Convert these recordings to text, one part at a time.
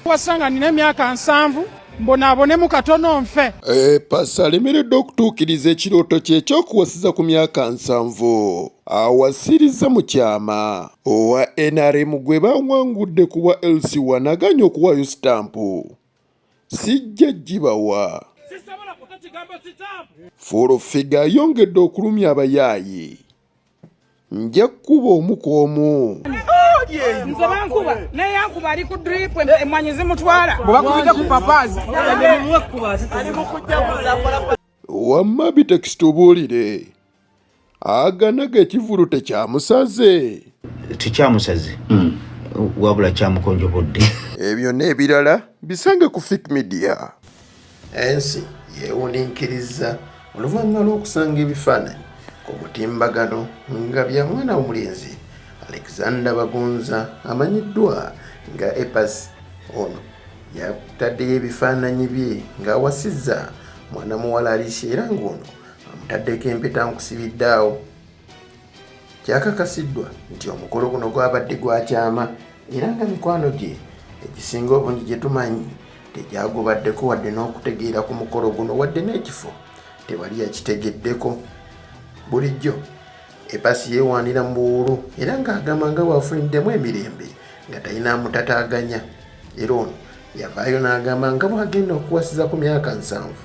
wasanga nina emyaka nsanvu mbonaabonemu katono nfe e, pasa alemereddwa okutuukiriza ekirooto kye ekyokuwasiza ku myaka nsanvu awasiriza mu kyama owa nrm gwe bawangudde ku bwa lc wanaganya okuwaayo sitampu sijja gibawa fulofiga ayongedde okulumya abayaayi nja kukuba omu ku omu nze bankuba naye yankuba ali ku drip emwanyi zimutwala bwebakubidde ku papazi wamma bitekisi tubuulire aganaga ekivulu tekyamusaze tekyamusaze hmm. wabula kyamukonjobodde ebyo n'ebirala bisange ku fik media ensi yeewuniikirizza oluvannyuma lw'okusanga ebifaananyi ku mutimbagano nga bya mwana w'omulenzi alexander bagonza amanyiddwa nga epas ono yataddeyo ebifaananyi bye ng'awasizza mwana muwala alicia era ng'ono amutaddeko empeta nkusibiddaawo Kyakakasiddwa nti omukolo guno gwabadde gwa kyama era nga mikwano gye egisinga obungi gye tumanyi tegyagubaddeko wadde n'okutegeera ku mukolo guno wadde n'ekifo tewali yakitegeddeko bulijjo ebasi yeewaanira mu buwuulu era ng'agamba nga bw'afuniddemu emirembe nga talina amutataaganya era ono yavaayo n'agamba nga bw'agenda okuwasiza ku myaka nsanvu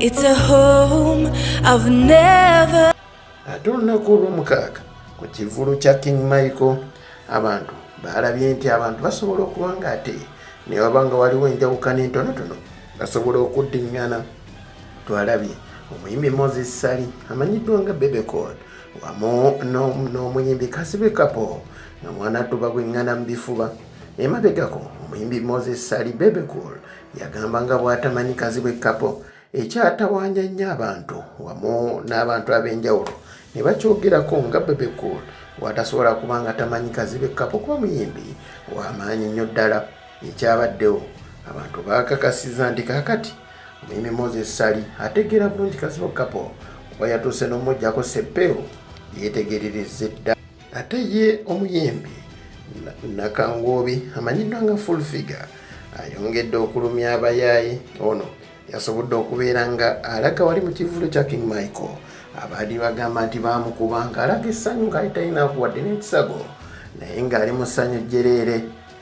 It's a home I've never ate olunaku olwomukaaga ku kivulu kya king michael abantu baalabye nti abantu basobola okuba nga ate newaba nga waliwo enjawukana entonotono basobola okuddiŋŋana twalabye omuyimbi moses sali amanyiddwa nga bebecol wamu n'omuyimbi kasibe kapo nga mwana tuba gweŋŋana mu bifuba emabegako omuyimbi moses sali bebecol Yagamba nga bw'atamanyi Kazibwe Kapo ekyatawaanya ennyo abantu wamu n'abantu ab'enjawulo ne bakyogerako nga Bebe Cool w'atasobola kuba nga tamanyi Kazibwe Kapo kuba muyimbi w'amaanyi nnyo ddala. Ekyabaddewo abantu baakakasiza nti kaakati omuyimbi Moses Ssali ategeera bulungi Kazibwe Kapo kuba yatuuse n'omuggyako Seppeewo yeetegererezza edda. ate ye omuyembi nakangoobi amanyiddwa nga full figure ayongedde okulumya abayaaye ono yasobodde okubeera nga alaga wali mu kivulu kya king michael abaali bagamba nti baamukuba ng'alaga essanyu ng'ali talinakuwadde n'ekisago naye ng'ali mu ssanyu jjereere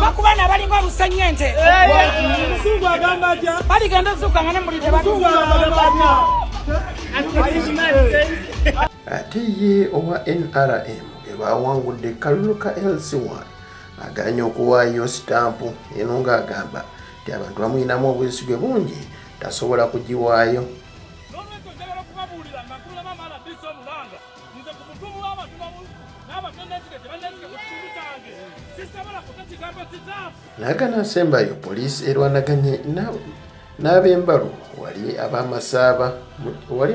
bakubana balinga omusenyu ente baligenda ozuuka nga nemulide ate ye owa nrm ebawangudde kalulu ka lc1 aganye okuwaayo sitampu eno ng'agamba nti abantu bamuyinamu obwesigwe bungi tasobola kugiwaayo nze ku mutumu w'abatubabu nagana nsembayo poliisi erwanaganye n'abembalu wali abamasaaba wali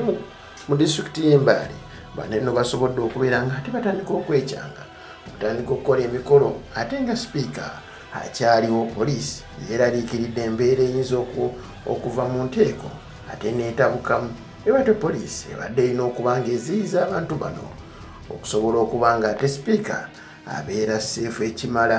mu disitulikiti y'embaale bano eno basobodde okubeera nga ate batandika okwekyanga okutandika okukola emikolo ate nga sipiika akyaliwo poliisi yeeraliikiridde embeera eyinza okuva mu nteeko ate neetabukamu Ebadde poliisi ebadde erina okuba ng'eziyiza abantu bano okusobola okuba nga ate sipiika abeera seefu ekimala.